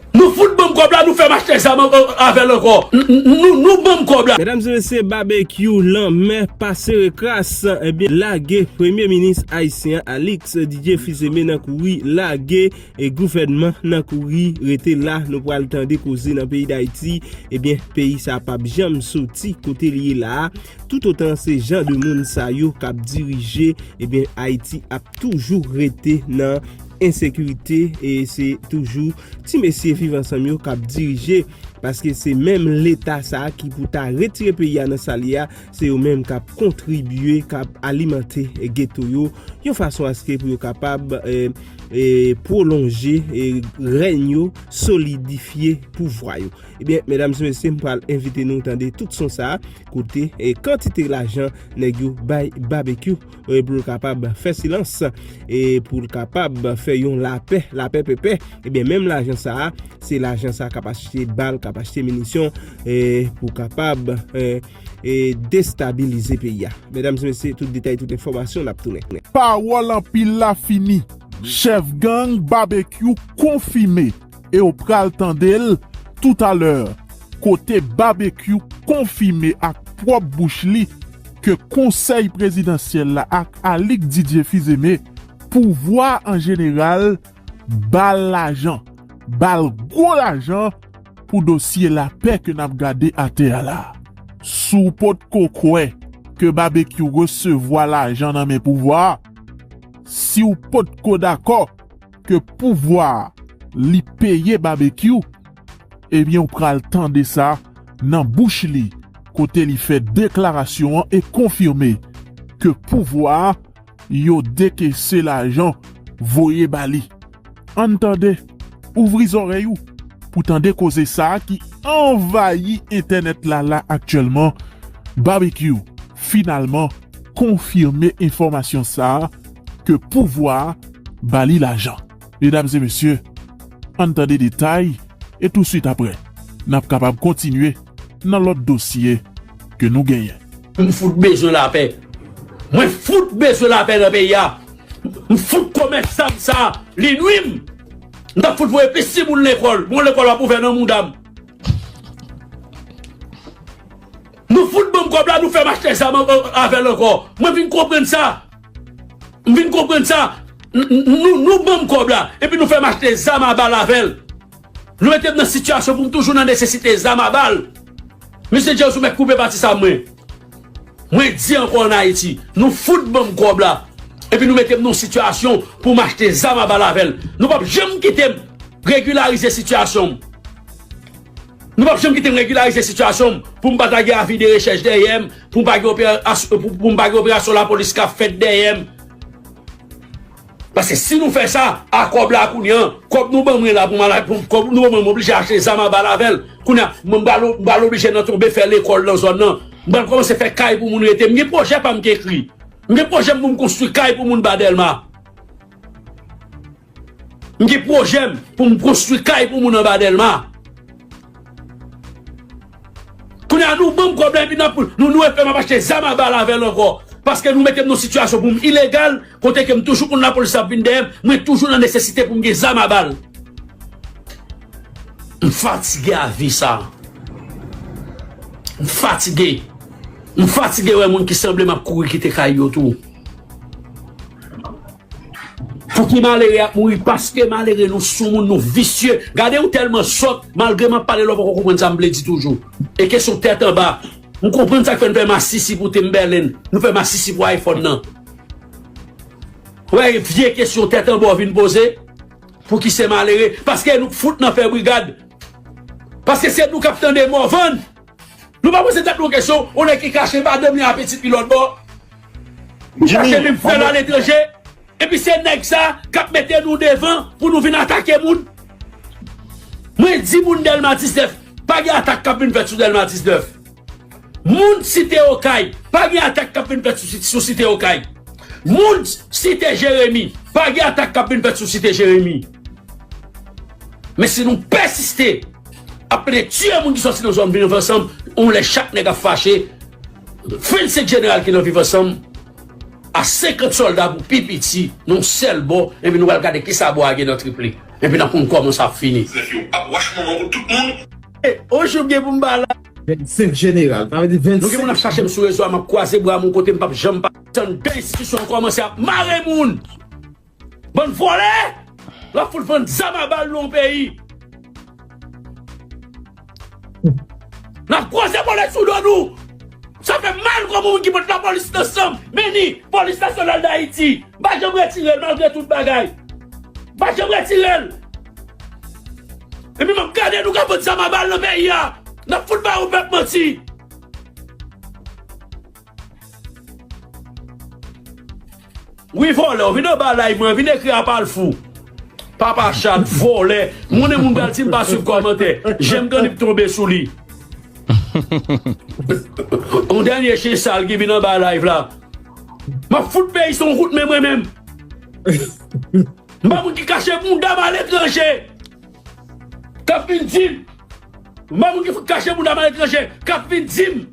Nou fout banm kob la nou fèm achte zam avèl ankò nou banm kob la. Medam se mesye Babekyou lanmè pa sere kras ebyen lage premye minis ayisyen an Alix Didier Fils-Aimé nan kouri lage gouvènman nan kouri rete la nou pral tande koze nan peyi dayiti ebyen peyi sa pap janm soti kote li ye la a tout otan se jan de moun sa yo kap dirije ebyen ayiti ap toujou rete nan ensekirite e se toujou ti mesye viv ansanm yo kap dirije paske se menm leta sa ki pou ta retire peyi a nan sal ye a se yo menm kap kontribye kap alimante geto yo yon fason aske pou yo kapab prolonje reny yo solidifye pou vwa yo ebyen medam se mesye m pral envite nou tande tout son sa kote kantite lajan neg yo bay babekyou. e pou l kapab fè silans e pou l kapab fè yon lapè, lapè pèpè ebyen eh menm lajan sa a se lajan sa a k ap achte bal, k ap achte minisyon e pou kapab e e destabilize peyi a medam se mesye tout detay tout enfòmasyon n ap tounen. Pawòl anpil la fini, chèf gang Babekyou konfime Ew pral tandel tout a lè kote Babekyou konfime ak pwòp bouch li ke konsèy prezidansyèl la ak Alix Didier Fizeme pouvwa an jeneral bal lajan, bal gwo lajan pou dosye lapè ke nap gade atè a la. Si w potko kwè ke Babekyou resevwa lajan nan men pouvwa, si w potko dakò, ke pouvwa li peye Babekyou ebyen ou pral tande sa nan bouch li kote li fè deklarasyon an e konfime ke pouvwa yo dekese lajan voye ba li. Ann tande, ouvri zòrèy ou pou tande koze sa ki anvayi entènèt la la aktyèlman, Babekyou finalman konfime enfòmasyon sa ke pouvwa a ba li lajan. Medam e mesye, ann tande detay e touswit aprè n ap kapab kontinye nan lòt dosye ke nou genyen. M fout bezwen lapè. Mwen fout bezwen lapè nan peyi a. M fout komès zam sa a. Li nwi m. M ta fout voye plis timoun lekòl. Bon lekòl ap ouvè nan mouda m. Nou fout banm kob la nou fèm achte zam avèl ankò mwen vin konprann sa m vin konprann sa nou nou banm kob la epi nou fèm achte zam a bal avèl nou metem nan sitiyasyon poum toujou nan nesesite zam a bal mesye Jèz ou mèt koupe pati sa mwen mwen di ankò an Ayiti nou fout banm kob la epi nou metem nan sitiyasyon poum achte zam a bal avèl nou pap janm kitem regilarize sitiyasyon m. Nou pap janm kite m regilarize sitiyasyon m pou m pa ta gen avi de rechèch dèyè m, pou m pa gen operasyon lapolis k ap fèt dèyè m. Paske si nou fè sa, a kòb la kounye an, kòb nou ban mwen la pou m oblije achte zam a bal avè l, kounye a m pral oblije nan tonbe fè lekòl nan zòn nan, m pral kòmanse fè kay pou moun rete. M gen pwojè pa m k ekri. M gen pwojè m pou m konstwi kay pou moun ba Dèlma. M gen pwojè m pou m konstwi kay pou moun anba Dèlma. Kounye a nou ban m kòb la epi n ap nou nou epe m ap achte zam a bal avè l ankò paske nou mete m nan sitiyasyon pou m ilegal kote ke m toujou konn lapolis ap vin dèyè m, mwen toujou nan nesesite pou m gen zam a bal. M fatige a vi sa. M fatige. M fatige wè moun ki sanble m ap kouri kite kay yo tou. Pouki malere ap mouri paske malere nou soumoun nou visye gade ou tèlman sòt malgre map pale lè ou poko konprann sam vle di toujou e kesyon tèt anba m konprann sak fè nou fè masisi pou Timberland nou fè masisi pou iPhone nan wè vye kesyon tèt anba ou vin poze pouki se malere paske nou k fout nan fè brigad paske se nou kap tande Morvan. Nou pa poze tèt nou kesyon, yon nèg ki kache madanm li ak pitit li lòtbò, li kache menm frè l aletranje, epi se nèg sa k ap mete nou devan pou nou vin atake moun. Mwen di moun Dèlma 19, pa gen atak k ap vin fèt sou Dèlma 19. Moun Site Okay, pa gen atak k ap vin fèt sou Site Okay. Moun Site Jeremi, pa gen atak k ap vin fèt sou Site Jeremi. Men si nou pèsiste. Ap mete tiye moun ki sòti nan zòn viv ansanm yon lè chak nèg ap fache 25 jeneral ki nan viv ansanm a 50 sòlda pou pi piti nan yon sèl bò epi nou pral gade kisa bò a gen nan trip li epi nap konn kòman sa ap fini. Zèf yo ap wach manman pou tout moun. On jou m gen pou m ba la. 25 jeneral sa vle di 25. Nou gen moun ap chache m sou rezo a map kwaze bra m yon kote m pap janm pa. Tann 2 enstitisyon an kòmanse ap mare moun. Bann vòlè! Lap fout vann zam a bal non peyi. Nap kwoze bolet sou do nou. Sa fè m mal kòm yon moun ki pot lapolis nan sanm. Men ni polis nasyonal dayiti. M pa janm retire l malgre tout bagay. M pa janm retire l. Epi map gade nou kap vann zam a bal nan peyi a. Nap fout ba yon pèp manti. Wi vòlè w vin anba live mwen vin ekri apal fou papa chat vòlè moun e moun pral sim pa swiv kòmantè jem grann yp tonbe sou li yon dènye chen sal ki vin anba live la map fout peyi sa yon kout men mwen menm mpa moun ki kache bounda m aletranje kap vin dim mpa moun ki fout kache bounda m aletranje kap vin dim.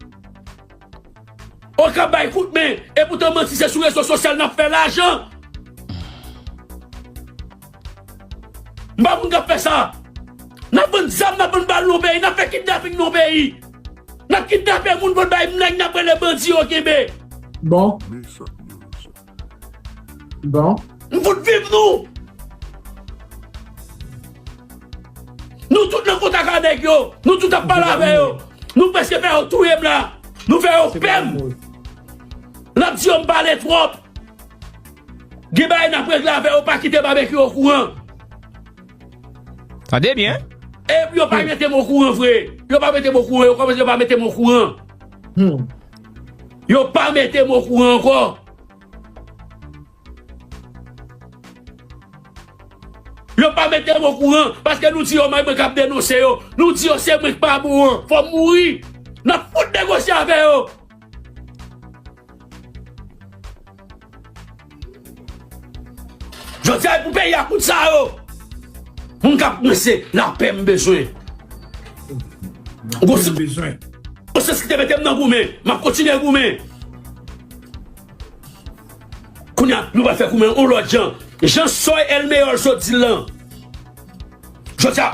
Okap bay kout men, epoutan manti se sou rezo sosyal nap fè lajan. M pa moun kap fè sa. Nap vann zam, nap vann bal nan yon peyi, nap fè kidnaping nan yon peyi. Nap kidnape moun pou l bay mnèg nap rele bandi yo kenbe. Bon. Bon. M fout viv nou! Nou tout nan kontak a nèg yo! Nou tout ap pale avè yo! Nou preske fè yo touye m la! Nou fè yo pè m! L ap di yo m pale twòp! Gen bagay n ap regle avè yo pa kite Babekyou okouran! Tande byen! E yo pa mete m okouran vre! Yo pa mete m okouran yo kòmanse pa mete m okouran! Hum! Yo pa metem o kouran ankò. Yo pa metem o kouran paske nou di yo may mwen kap denonse yo. Nou di yo se mwen ki pa bon an. Fòm mouri. Nap fout negosye avè yo. Jodi a e pou peyi a kout sa yo Moun kap mwen se lapè m bezwen Gon se konsyans ki te mete m nan goumen Map kontinye goumen Kounye a nou pral fè goumen yon lòt jan Jan Soy Elmeyòl sot di l lan Jodi a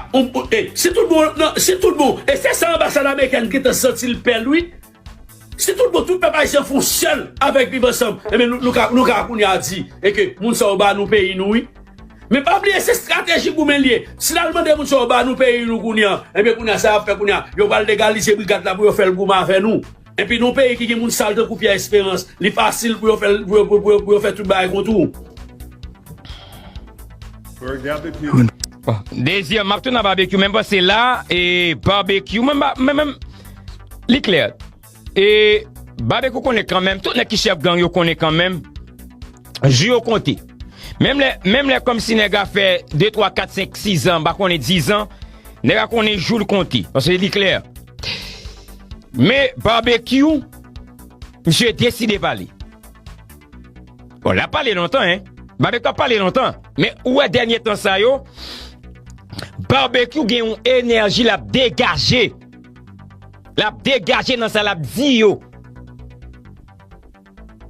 si tout bon e se sa anbasad amerikèn gentan santi l pè l wi Si tout bon tout pèp ayisyen fon sèl avèk viv ansanm ebyen nou ka nou ka kounye a di e ke moun sa yo ba nou peyi nou wi men pa bliye se strateji goumen li ye si lal mande moun sa yo ba nou peyi nou kounye a ebyen kounye a sa yap fè kounye a yo pral legalize brigad la pou yo fèl goumen avè nou epi nou peyi ki gen moun sal tankou Pierre Esperance li fasil pou yo fèl pou yo pou yo pou yo fè tout bagay kont ou. Désir map tou nan barbecue men panse la e barbecue mwen ba men men li klè e barbecue konnen kan men tout nèg ki chèf gang yo konnen kan men jou yo konte men men men men kòm si nèg a fè 2 3 4 5 6 ans ba konnen 10 ans nèg a konnen jou l konte panse li klè men barbecue misye deside pale. Bon la pale lontan hein. Barbecue ap pale lontan. Men ou wè dènye tan sa yo, Barbecue gen yon enèji lap degaje. Lap degaje nan sa lap di yo.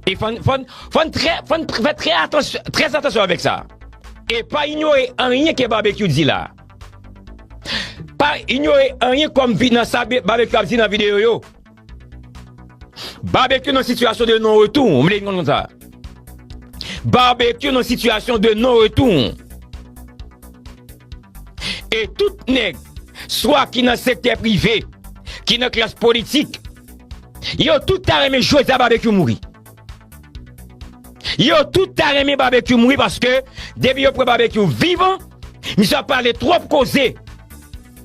E fòn, fòn, fòn trè, fòn fè trè atansyon, trè atansyon avèk sa. E pa inyore anyen ke Barbecue di la. Pa inyore anyen kòm vi nan sa Barbecue ap di nan videyo yo. Barbecue nan sitiyasyon de non retou, m vle konn sa. Barbecue nan sitiyasyon de non retou. E tout nèg, swa ki nan sektè prive, ki nan klas politik, yo tout ta renmen jodi a Barbecue mouri. Yo tout ta renmen Barbecue mouri paske depi yo pran Barbecue vivan, misye ap pale twòp koze.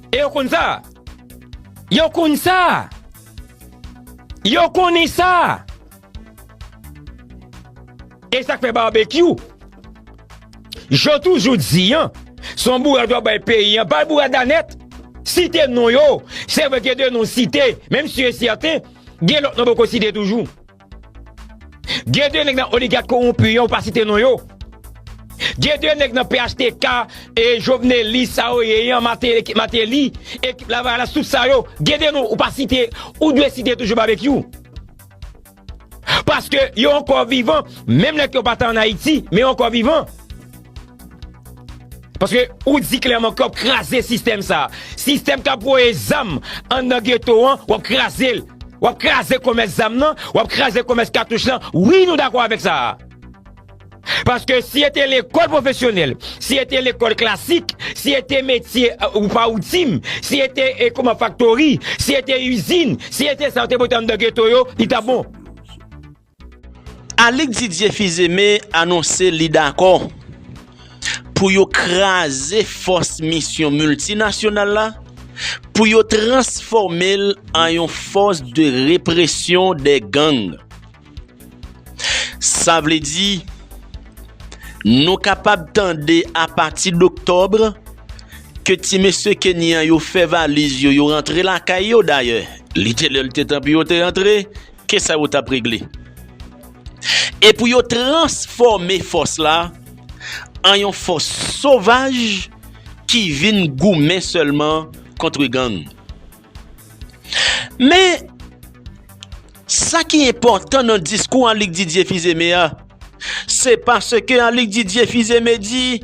E yo konn sa. Yo konn sa! Yo konnen sa! E sa k fè Babekyou, je toujou di an, se yon bourad wap bay peyi an, bal bourad la nèt! Site non yo, se vre gen de non site, menm si yo sèten, gen lòt non poko site toujou. Gen 2 nèg nan oligat kowonpi yo ou pa site non yo. Gen 2 nèg nan phtk e joveneli sa yo ye yan mateli ekip lavalas tout sa yo gen 2 non ou pa site ou dwe site toujou babekyou. Paske yo ankò vivan menm lè ke yo pa ta an ayiti men yo ankò vivan. Paske ou di klèman ke wap kraze sistèm sa. Sistèm kap voye zam anndan geto an, wap kraze l. Wap kraze komès zam nan, wap kraze komès katouch lan. Wi nou dakò avèk sa. Paske si e te lekòl pwofesyonèl, si e te lekòl klasik, si e te metye ou pa ou di m, si e te kouman faktori, si e te izin, si e te sa yo te pote anndan geto yo, li tap bon. Alix Didier Fils-Aimé anonse li dakò pou yo kraze fòs misyon miltinasyonal la pou yo transfòme l an yon fòs de represyon dè gang. Sa vle di nou kapab tande apati doktòb ke ti mesye Kenyan yo fè valiz yo yo rantre lakay yo dayè li te lè l te tan pou yo te rantre Ke sa yo tap regle. E pou yo transfòme fòs la an yon fòs sovaj ki vin goumen sèlman kontre gang. Men, sa ki enpòtan nan diskou Annik Didye Fizeme a, se paske Annik Didye Fizeme di,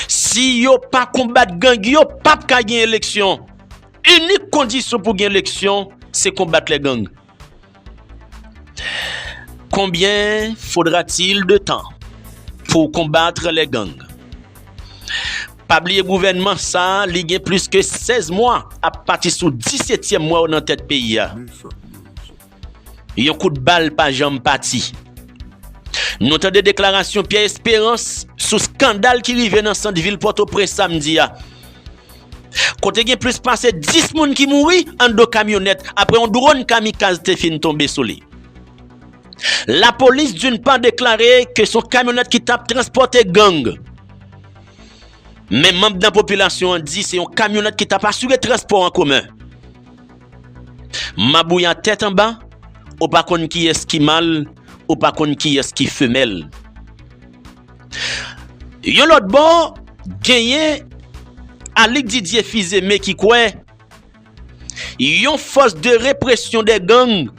si yo pa konbat gang yo pap ka gen eleksyon. Inik kondisyon pou gen eleksyon se konbat les gang konbyen fodra til de tan pou konbatre les gang pa bliye gouvenman sa li gen plis ke 16 mwa ap pati sou 17 tyèm mwa yo nan tèt peyi a. Yon kout bal pa janm pati. Nou tande deklarasyon Pierre Esperance sou skandal ki rive nan sant vil Pòtoprens samdi a. Kote gen plis pase 10 moun ki mouri andan kamyonèt apre yon dron kamikaz te fin tonbe sou li. Lapolis d'une part deklare ke son kamyonèt ki tap transpòte gang. Men manb nan popilasyon an di se yon kamyonèt ki tap asire transpò an komen. Mabouya tèt anba, ou pa konn kiyès ki mal, ou pa konn kiyès ki femèl. Yon lòt bò, genyen Alix Didier Fils-Aimé ki kwè yon fòs de represyon dè gang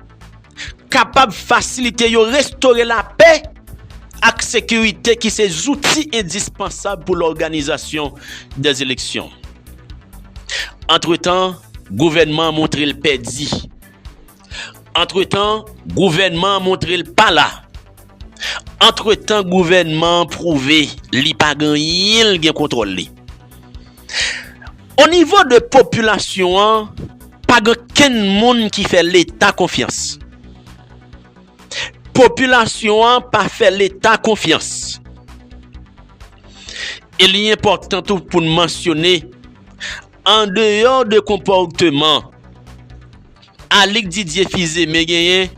kapab fasilite yo restore lapè ak sekirite ki se zouti endispansab pou lòganizasyon de eleksyon. Antretan, gouvènman an montre l pèdi. Antretan, gouvènman an montre l pa la. Antretan, gouvènman an pwouve li pa gen anyen l gen kontwòl li. O nivo de popilasyon an, pa gen kenn moun ki fè Leta konfyans. Popilasyon an pa fè Leta konfyans. E li enpòtan tou pou n mansyone, andeyò de konpòteman, Alix Didier Fils-Aimé genyen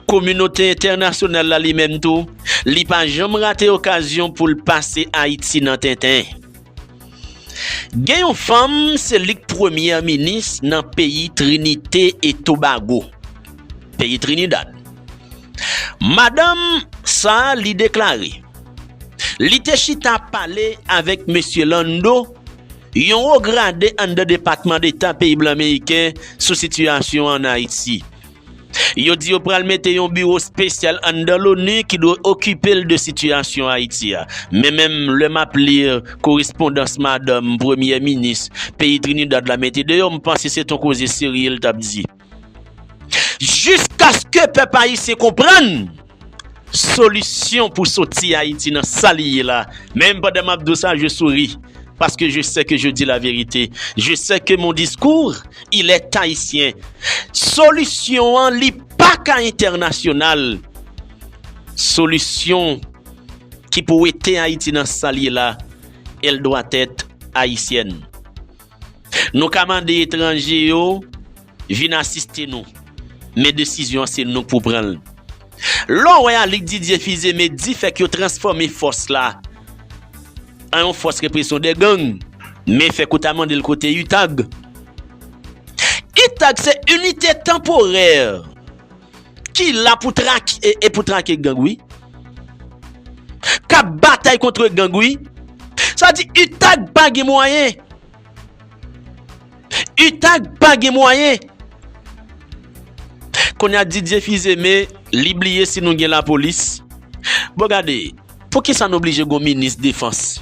kominote entènasyonal la li menm tou, li pa janm rate okazyon pou l pase Ayiti nan tenten. Gen yon fanm se li k premyè minis nan peyi Trinite e Tobago, peyi Trinidad. Madanm sa li deklare li te chita pale avèk mesye Lando Yon wo grade anndan Depatman Deta peyi blan Meriken sou sitiyasyon an ann Ayiti. Yo di yo pral mete yon biwo spesyal anndan Loni ki dwe okipe l de sitiyasyon Ayiti a. Men menm lè m ap li korespondans madanm premyè minis peyi Trinidad la mete deyò, m panse se t on koze serye l t ap di. Jiskaske pèp ayisyen konprann solisyon pou soti Ayiti nan sa li ye la, menm pandan map di w sa je souri paske je sè ke je di la verite, je sè ke mon discours il est haïtien, solisyon an li pa ka entènasyonal, solisyon ki pou wete Ayiti nan sa li ye la, elle doit être haïtienne. Nou ka mande etranje yo vin asiste nou, men desizyon an se nou pou pran l. Lè w wè Alig Didye Fizeme di fèk yo transfòme fòs la an yon fòs represyon de gang, men fèk ou ta mande l kote UTAG? UTAG se Unité Temporaire. Ki la pou trak e pou trake gang wi. Kap batay kontre gang wi. Sa di utag pa gen mwayen. Utag pa gen mwayen. Konya Didier Fils-Aimé li bliye si nou gen lapolis. Bon gade, poukisa nou blije gon minis defans?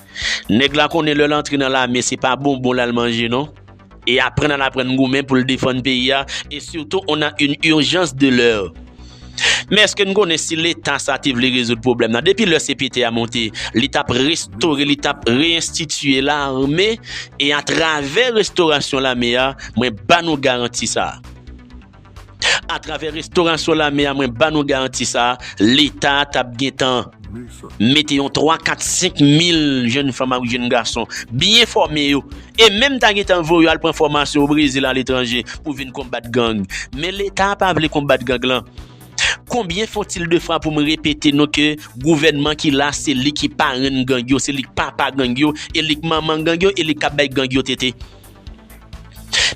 Nèg la konnen lèl antre nan lame se pa bonbon lal manje non. E aprann lal aprann goumen poul defann peyi a e surtou on a une urgence de l'heure. Men eske n konnen si leta sa te vle rezoud pwoblèm nan depi lè CPT a monte li tap restore li tap reinstitue lame e a travè restorasyon lame a mwen ba nou garanti sa. Atravè restorasyon lame a mwen ba nou garanti sa, leta a tap gentan mete yon 3, 4, 5 mil jenn fanm ak jenn gason, byen fòme yo, e menm ta gentan voye yo al pran fòmasyon o Brezil, aletranje pou vin konbat gang. Men leta a pa vle konbat gang lan. Konbyen font-il de fwa pou m repete nou ke gouvènman ki la se li ki parenn gang yo, se li k papa gang yo, e li k manman gang yo, e li k ap bay gang yo tete.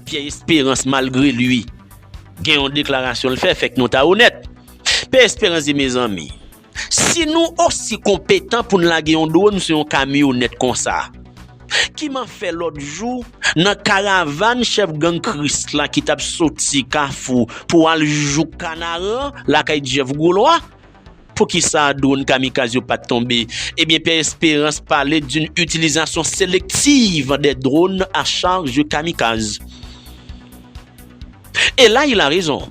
Pierre Esperance malgre lui gen yon deklarasyon l fè fèk nou ta onèt. Pierre Esperance di mezanmi, si nou osi konpetan pou n lage yon dwòn sou yon kamyonèt konsa, kiman fè lòt jou nan karavàn chèf gang Kris la ki t ap soti Kafou pou al jouk Kanaran lakay Jeff Gwo Lwa, Poukisa dron kamikaz yo pat tonbe? Ebyen Pè Esperans pale d'un utilizasyon selektiv dè dron a charj kamikaz. E la il a rezon.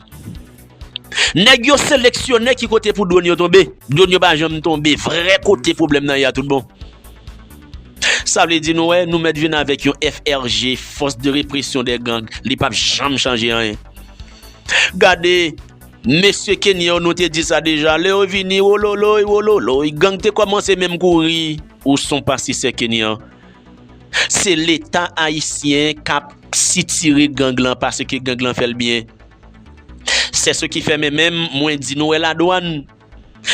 Nèg yo seleksyone ki kote pou dron yo tonbe. Dron yo pa janm tonbe vrè kote pwoblèm nan ye a tout bon. Sa vle di nou wè nou mèt vin avèk yon FRG, Force de Répression des Gangs, li pap janm chanje anyen. Gade Mesye Kenyen yo nou te di sa deja lè yo vini wololoy wololoy gang te kòmanse menm kouri. Ou son pastisè kenyan. Se leta ayisyen kap sitire gang lan paseke gang lan fèl byen sèse ki fè men menm mwen di nou wè la dwann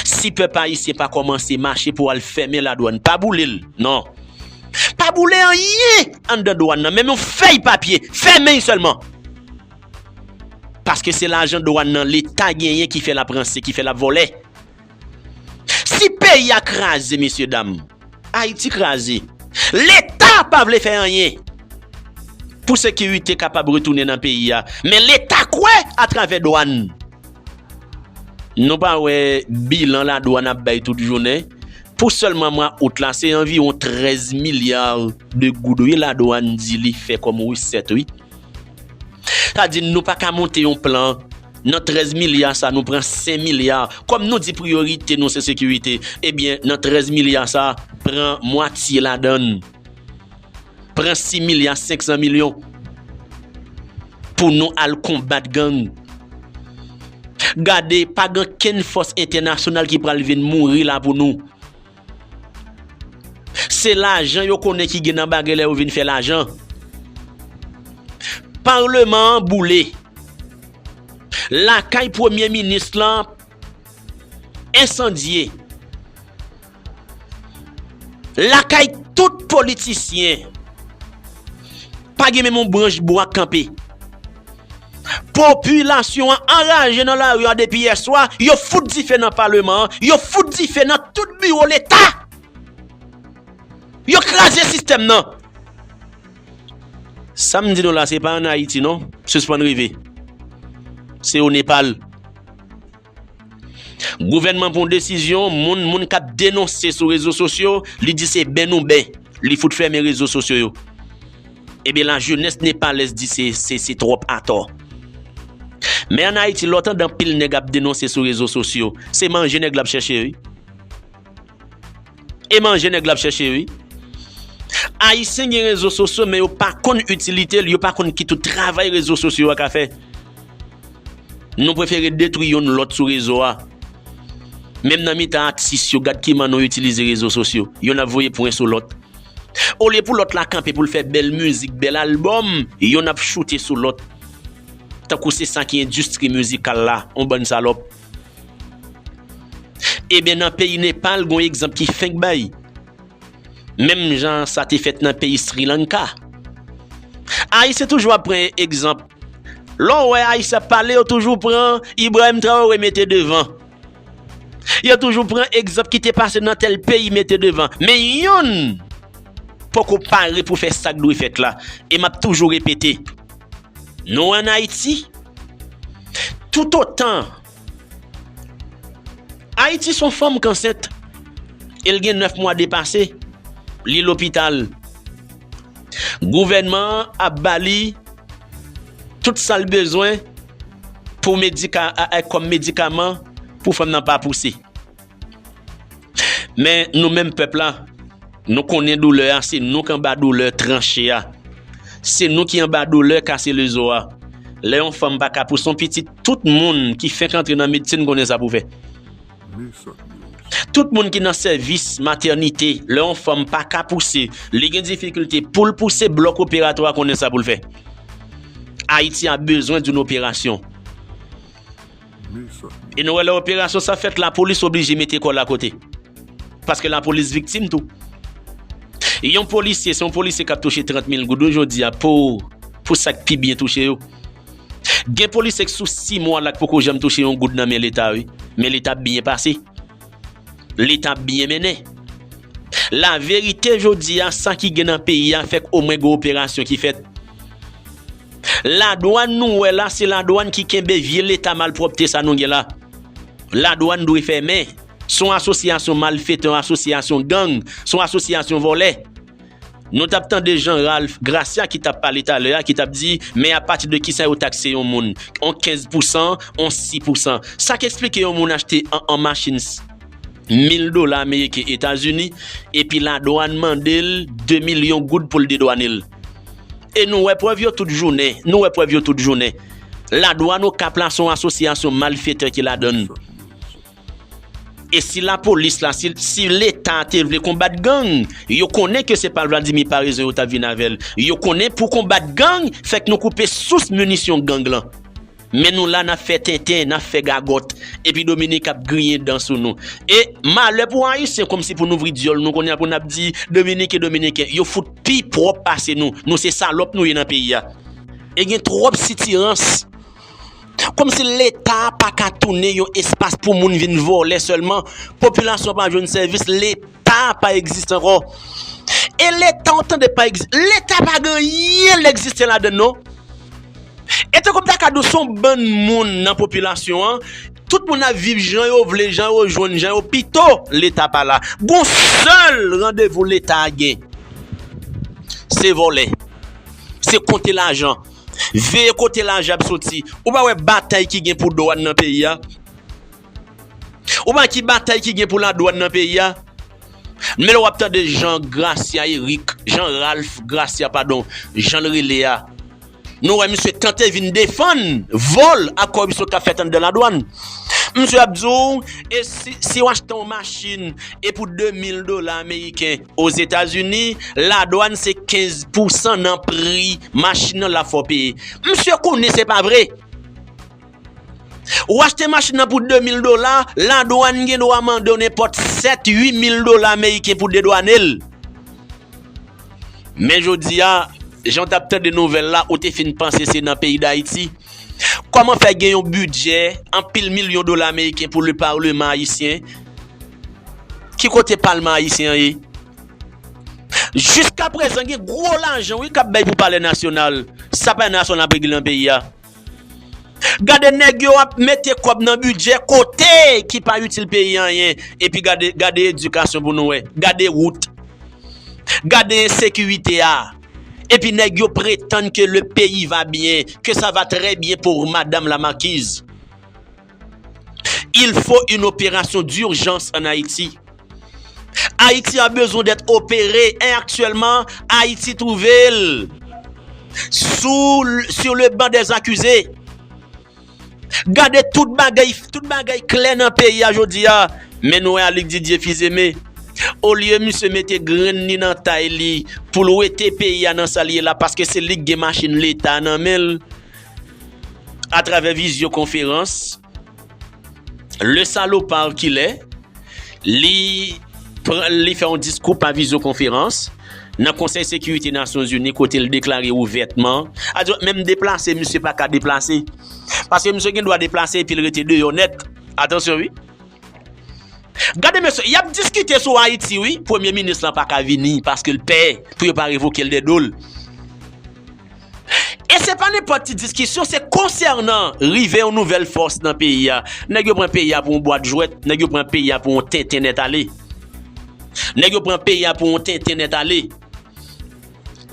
si pèp ayisyen pa kòmanse mache pou al fèmen la dwann pa boulel non pa boule anyen anndan dwann nan menm yon fèy papye fèmen sèlman. Paske se lajan dwan nan leta genyen ki fè lap ranse, ki fè lap vòlè. Si peyi a kraze mesye dam, Ayiti kraze. Leta pa vle fè anyen pou sekirite kapab retounen nan peyi a. Men leta kwè a travè dwan. Nou pa wè bilan la dwan ap bay tout jounen. Pou sèlman mwa out la se anviwon 13 milyar de goud wi la dwan di li fè kòm resèt wi. Sa di nou pa ka monte yon plan, nan 13 milya sa nou pran 5 milya, kòm nou di priyorite nou se sekirite, ebyen nan 13 milya sa, pran mwatye ladan l, pran 6 milya 500 milyon, pou nou al konbat gang. Gade, pa gen kenn fòs entènasyonal ki pral vin mouri la pou nou. Se lajan yo konnen ki gen nan bagay la yo vin fè lajan. Parleman an boule. Lakay premye minis lan ensandye. Lakay tout politisyen pa gen menm yon branch bwa k kanpe. Popilasyon an anraje nan lari a depi yè swa, yo fout dife nan paleman an, yo fout dife nan tout biwo leta! Yo kraze sistèm nan! Sa m di nou la se pa an Ayiti non, sispann reve. Se o Nepal. Gouvènman pran yon desizyon, moun moun kap denonse sou rezo sosyo, li di se ben nou ben, li fout fèmen rezo sosyo yo. Ebyen la jenès nepalèz di se se se twòp atò. Men an Ayiti lè w tande anpil nèg ap denonse sou rezo sosyo, se manje nèg la ap chèche wi. E manje nèg la ap chèche wi. Ayisyen gen rezo sosyo men yo pa konn itilitel, yo pa konn ki tout travay rezo sosyo a ka fè. Nou prefere detwi youn lòt sou rezo a. Menm nan mitan atis yo gad kiman nou itilize rezo sosyo. Youn ap voye pwen sou lòt. Olye pou lòt la kanpe pou l fè bèl mizik, bèl albòm, youn ap choute sou lòt. Tankou se sa ki endistri mizikal la, yon bann salòp. Eben nan peyi Nepal gon egzanp ki fenk bay. Menm jan sa te fèt nan peyi Sri Lanka. Ayisyen toujou ap pran egzanp. Lè w wè Ayisyen ap pale yo toujou pran Ibrahim Traore mete devan. Yo toujou pran egzanp ki te pase nan tèl peyi mete devan. Men yonn poko pare pou fè sa k dwe fèt la. E m ap toujou repete. Nou an Ayiti, tout otan, Ayiti son fanm kansent, e l gen 9 mwa depase, li lopital, gouvènman an ap ba li tout sa l bezwen pou medika, kòm medikaman pou fanm nan pa pouse. Men nou menm pèp la, nou konnen doulè a, se nou k anba doulè tranche a. Se nou ki anba doulè kase le zo a. Lè yon fanm pa ka pouse yon pitit, tout moun ki fenk antre nan medsin konnen sa pou fè. Tout moun ki nan sèvis matènite, lè yon fanm pa ka pouse, li gen difikilte pou l pouse blòk operatwa konnen sa pou l fè. Ayiti a bezwen doun operasyon. E nou wè lè operasyon sa fèt lapolis oblije mete kòl akote. Paske lapolis viktim tou. Yon polisye, se yon polisye kap touche 30 mil goud ou jodi a pou pou sak pi byen touche yo. Gen polisye k sou 6 mwa lak poko janm touche yon goud nan men leta wi. Men leta ap byen pase. Leta ap byen mennen. La verite jodi a sa ki gen nan peyi a fèk omwen gen operasyon ki fèt. La douane nou wè la se la douane ki kenbe vye leta malpropte sa nou gen la la douane dwe fèmen son asosyasyon malfeteur asosyasyon gang son asosyasyon volè nou tap tande jan ralph gracia ki tap pale talè a ki tap di men apati de kisa yo takse yon moun on 15 pousan on 6 pousan sa k esplike yon moun achte an an machin s mil dola ameriken etazini epi la douane mandel 2 milyon goud poul dedwane l. E nou wè prèv yo tout jounen. Nou wè prèv yo tout jounen. La Douane Okap la son asosyasyon malfetè ki ladan l. E si la polis la, si leta te vle konbat gang, yo konnen ke se pa Vladimir Paraison yo tap vin avè l. Yo konnen pou konbat gang, fèk nou koupe sous minisyon gang lan. Men nou la nap fè tenten, nap fè gagòt, epi Dominik ap griyen dan sou nou. E malè pou Ayisyen kòm si pou n ouvri dyòl nou kounye a pou n ap di Dominiken, Dominiken. Yo fout pi pwòp pase nou. Nou se salòp nou ye nan peyi a. E gen twòp sitirans. Kòm si Leta a pa ka tounen yon espas pou moun vin vòlè sèlman. Popilasyon pa jwenn sèvis, Leta. Leta pa egziste ankò. E leta ou tande pa egziste. Leta pa gen anyen l egziste ladan l non. E tankou m ta ka di w se yon bann moun nan popilasyon an, tout moun ap viv jan yo vle, jan yo jwenn, jan yo pito leta pa la. Gon sèl randevou leta gen, se vòlè, se konte lajan, veye kote lajan ap soti. Ou pa wè batay ki gen pou dwàn nan peyi a? Ou pa ki batay ki gen pou la dwan nan peyi a? Men lè wap tande Jean Gracia Eric, Jean Ralph Gracia padon, jan l rele a, nou wè misye tante vin defann vòl ak kòripsyon kap fèt anndan la dwan. Misye ap di w, e si, si w achte yon machin e pou 2000 dola ameriken o Zetazini, la dwan se 15 pousan nan pri machin nan la fè w peye. Misye konnen se pa vre. Ou achte machin nan pou 2 mil dola, ladwàn gen dwa mande w nenpòt 7, 8 mil dola meriken pou dedwane l. Men jodi a, jan w t ap tande nouvèl la, ou te fin panse se nan peyi Dayiti? Kòman fè gen yon bidjè anpil milyon dola meriken pou le parleman ayisyen? Ki kote palman ayisyen an ye? Jiskaprezan gen gwo lajan wi k ap bay pou palè nasyonal. Sa pa yon nasyon n ap regle nan peyi a. Gade neg yo ap mete kob nan bidjè kote ki pa itil peyi anyen epi gade edikasyon pou nou wè gade wout gade ensekirite a epi neg yo pretann ke le peyi va byen ke sa va trè byen pour madam la markiz. Il fo yn operasyon durjans an Ayiti. Ayiti a bezwen dèt opere en aktyèlman Ayiti twouve l sur le ban dè zakize. Gade tout bagay tout bagay klè nan peyi a jodi a men nou wè Alyk Didier Fils-Aimé olye misye mete grenn li nan tay li pou l wete peyi a nan sa l ye la paske se li k gen machin leta nan men l Atravè vizyo konferans, Le Salopard ki lè li li fè yon diskou pa vizyo konferans nan konsèy sekirite nasyon zini kote li deklare ouvètman adyo menm deplase misye pa ka deplase paske misye gen dwa deplase epi li rete deyò nèt atansyon wi gade mesye yap diskite sou ayiti wi premye minis lan pa ka vini paske li pè pou yo pa revoke li de do l. E se pa nenpòt ti diskisyon, se konsènan rive yon nouvèl fòs nan peyi a. Nèg yo pran peyi a pou yon bwat jwèt, nèg yo pran peyi a pou yon tenten nèt ale. Nèg yo pran peyi a pou yon tenten nèt ale.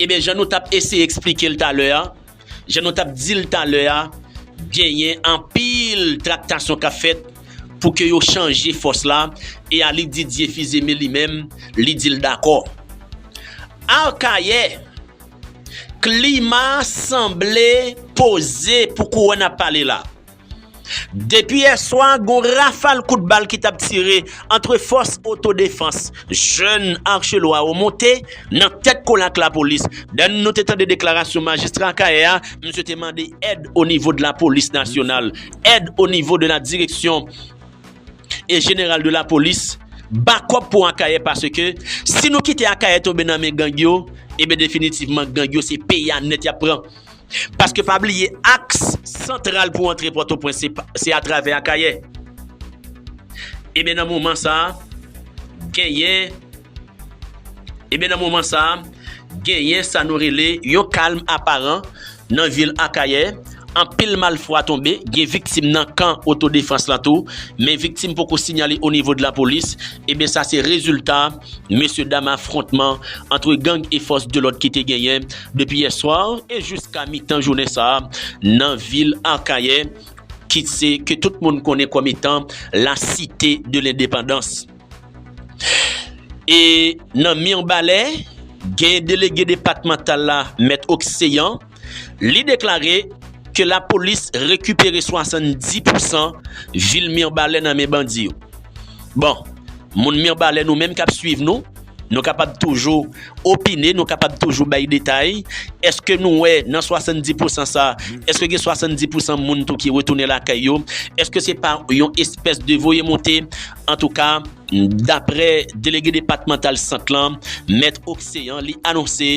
Eben, jan nou t ap eseye eksplike l talè a, jan nou t ap di l talè a, genyen anpil traktasyon k ap fèt pou ke yo chanje fòs la, e Aly Didier Fils-Aimé li menm, li di l dakò. Akayè! Klima sanble poze pou kouwè n ap pale la. Depi yè swa gon rafal kout bal ki t ap tire antre fòs otodefans jèn Archelois yo monte nan tèt kole ak lapolis. Dan nou te tande deklarasyon majistra Akayè a, misye te mande èd onivo de lapolis nasyonal, èd onivo de la direksyon. E general de la polis Bakop pou akayè paske si nou kite akayè tonbe nan men gang yo Ebyen definitivman gang yo se peyi a nèt yap pran Paske pa bliye aks santral pou antre pòtoprens se atravè akayè Ebyen nan moman sa genyen Ebyen nan moman sa, genyen sa nou rele yon kalm aparan nan vil Akayè, anpil mal fwa tonbe, gen viktim nan kan oto defans lan tou, men viktim poko sinyale o nivo de la polis, ebyen sa se rezilta mesye dam afrontman antre gang e fòs de lòd ki te genyen depi yè swa e jiska mitan jounen sa nan vil Akayè ki se ke tout moun konnen kòm etan la site de lendepandans. E nan Mirbalè, gen delege depatmantal la, Mèt Okseyan, li deklare ke lapolis rekipere 70 pousan vil Mirbalè nan men bandi yo. Bon, moun Mirbalè nou menm k ap swiv nou, nou kapab toujou opine, nou kapab toujou bay detay, èske nou wè nan 70 pousan sa, èske gen 70 pousan moun tou ki retounen lakay yo? Èske se pa yon espès de voye monte Antouka, daprè delege depatmantal Sant lan, Mèt Occean, li anonse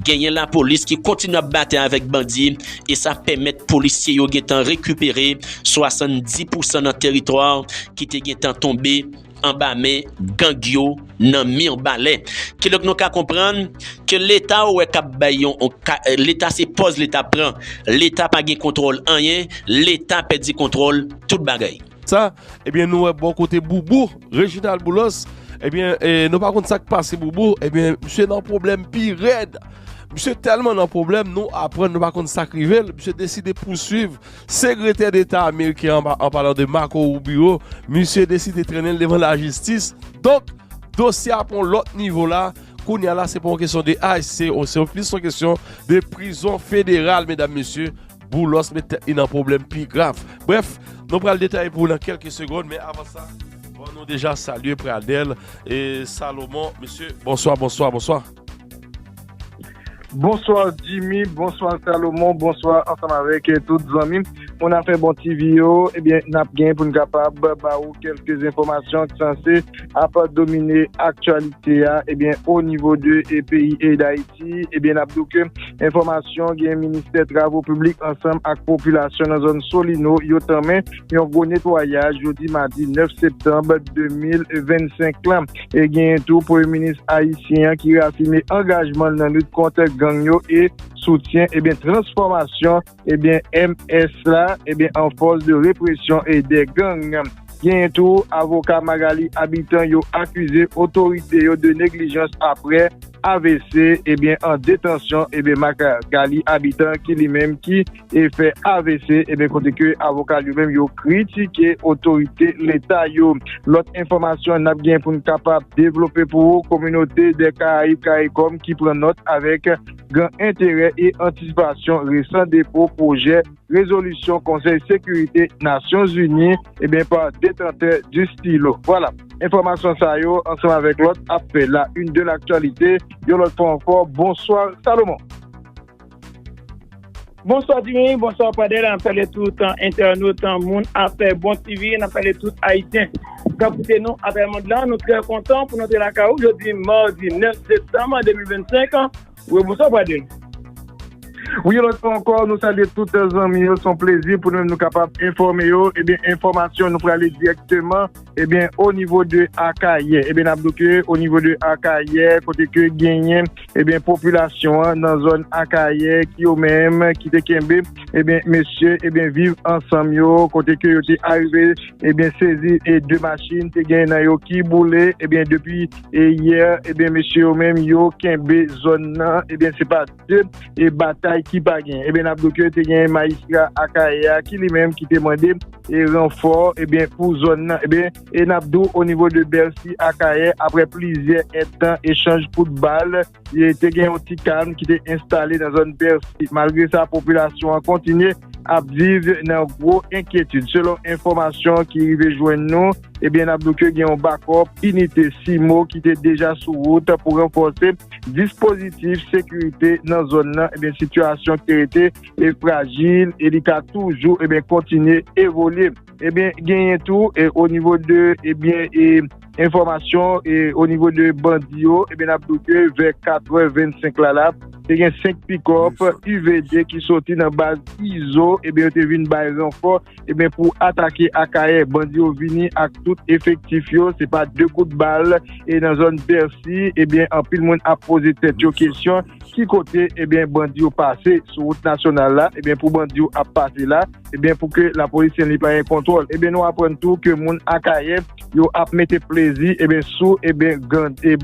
genyen lapolis ki kontinye ap batay avèk bandi e sa pèmèt polisye yo gentan rekipere 70 pousan nan teritwa ki te gentan tonbe anba men gang yo nan Mirbalè. Kidonk nou ka konprann ke leta ou wè kap bay yon leta se pòz leta pran. Leta pa gen kontwòl anyen, leta pèdi kontwòl tout bagay. Sa ebyen nou wè bò kote boubou Reginald boulos ebyen nou pa konn sak pase boubou ebyen misye nan pwoblèm pi rèd misye tèlman nan pwoblèm nou aprann nou pa konn sak rivel misye deside pouswiv segretè deta ameriken an an palan de Marco Rubio misye deside trennenl devan lajistis donk dosye a pran lòt nivo la kounya la se pa yon kesyon de ICE se plis yon kesyon de prizon federal medam mesye. Boulos met tèt li nan pwoblèm pi grav. Brèf, nou pral detaye pou ou nan kèlke segond, men avan sa, ban nou deja salye Pradel e Salomon. Mesye, bonswa, bonswa, bonswa. Bonswa Jimmy, bonswa Salomon, bonswa ansanm avèk tout zanmi moun afè Bon TV yo. Ebyen, n ap gen pou n kapab ba ou kèlke enfòmasyon ki sanse. ap domine aktyalite a ebyen o nivo de peyi e dayiti ebyen nap diw ke enfòmasyon gen ministè travo piblik ansanm ak popilasyon nan zòn solino yo tanmen yon gwo netwayaj jodi madi 9 septanb 2025 lan e genyen tou premye minis ayisyen an ki reafime angajman nan lit kont gang yo e soutyen ebyen transfòmasyon. Ebyen MS la ebyen an fòs de represyon e de gang. Genyen tou avoka Magalie Habitant yo akize otorite yo de neglijans aprè avc ebyen an detansyon ebyen Magalie Habitant ki li menm ki e fè avc ebyen kote ke avoka l yo menm yo kritike otorite leta yo. Lòt enfòmasyon nap genyen poun kapab devlope pou ou kominote dè karayib karikòm ki pran nòt avèk gran enterè e antisipasyon resan depo pwojè rezolisyon Konsèy Sekirite Nasyon Zini ebyen pa detantè di stilo. Vwala, enfòmasyon sa yo ansanm avèk lòt ap fè la une de l'actualité yon lòt fwa ankò. Bonswa Salomon! Bonswa Dini, bonswa Pradel, nap salye tout entènot moun afè bon TV, nap salye tout ayisyen kap koute nou atravè mond lan, nou trè kontan pou nou te lakay ou jodi mardi 9 septanm 2025 an, wi bonswa Pradel. Wi yon lòt fwa ankò nou salye tout zanmi yo, son plezi pou nou menm nou kapab enfòme yo, ebyen enfòmasyon nou prale dirèkteman Ebyen o nivo de Akayè, ebyen nap do ke o nivo de Akayè kote ke genyen ebyen popilasyon an nan zòn Akayè ki yo menm ki te kenbe ebyen mesye ebyen viv ansanm yo kote ke yo te arive ebyen sezi e 2 machin te genyen nan yo ki boule ebyen depi e yè ebyen mesye yo menm yo kenbe zòn nan ebyen se pa. de e batay ki pa gen e ben ap do ke te gen majistra akayè a ki li menm ki te mande e ranfò e ben pou zòn nan e ben e nap do o nivo de bèlsi akayè apre plizyè etan e chanj kout bal e te gen yon ti kalm ki te enstale nan zòn bèlsi malgre sa popilasyon an kontinye ap viv nan gwo enkyetid selon enfòmasyon ki rive jwenn nou. Ebyen nap diw ke gen yon bakòp inite CIMO ki te deja sou wout pou ranfòse dispozitif sekirite nan zòn nan, ebyen sitiyasyon ki te rete e frajil e li ka toujou ebyen kontinye evolye. Ebyen genyen tou e o nivo de ebyen e enfòmasyon e o nivo de bandi yo ebyen nap diw ke vè 4 è 25 la la te gen 5 pikòp UVD ki soti nan baz Izo ebyen yo te vin bay ranfò. Ebyen pou atake Akayè bandi yo vini ak tout efektif yo se pa 2 kout bal e nan zòn Bèsi ebyen anpil moun ap poze tèt yo kesyon ki kote ebyen bandi yo pase sou wout nasyonal la ebyen pou bandi yo ap pase la ebyen pou ke lapolis sen li pa gen kontwòl ebyen nou aprann tou ke moun Akayè yo ap mete plezi ebyen sou ebyen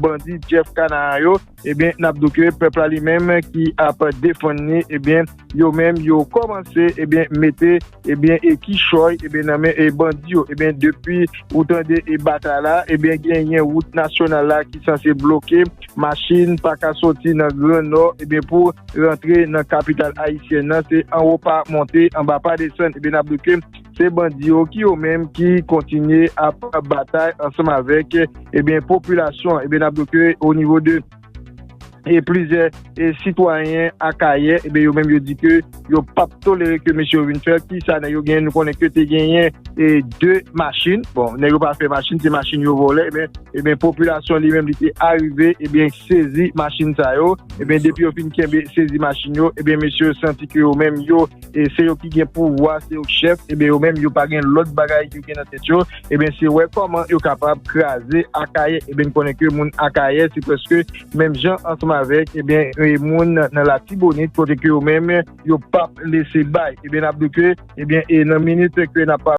bandi Jeff Kanaan yo. Ebyen nap do ke pèp la li menm ki ap defann ni ebyen yo menm yo kòmanse ebyen mete ebyen kichòy ebyen nan men bandi yo ebyen depi ou tande e batay la ebyen genyen wout nasyonal la ki sanse bloke machin pa ka soti nan gran nò ebyen pou rantre nan kapital ayisyèn nan se anwo pa monte anba pa desann ebyen nap do ke se bandi yo ki yo menm ki kontinye ap batay ansanm avèk ebyen popilasyon an ebyen nap di w ke o nivo de e plizyè e sitwayen akayè ebyen yo menm yo di ke yo pap tolere ke mesye yo vin fè ki sa nèg yo genyen nou konnen ke te genyen e 2 machin bon nèg yo pa fè machin se machin yo vòlè ebyen ebyen popilasyon li menm li te arive ebyen sezi machin sa yo ebyen depi yo fin kenbe sezi machin yo ebyen mesye yo santi ke yo menm yo e se yo ki gen pouvwa, se yo ki chèf, eben yo menm yo pa gen lòt bagay yo gen nan tèt yo, eben se wè kòman yo kapab kraze Akayè, eben n konnen ke moun Akayè se prèske menm jan ansanm avèk eben moun nan Latibonit kote ke yo menm yo pap lese bay, eben n ap di ke eben e nan minit ke n ap.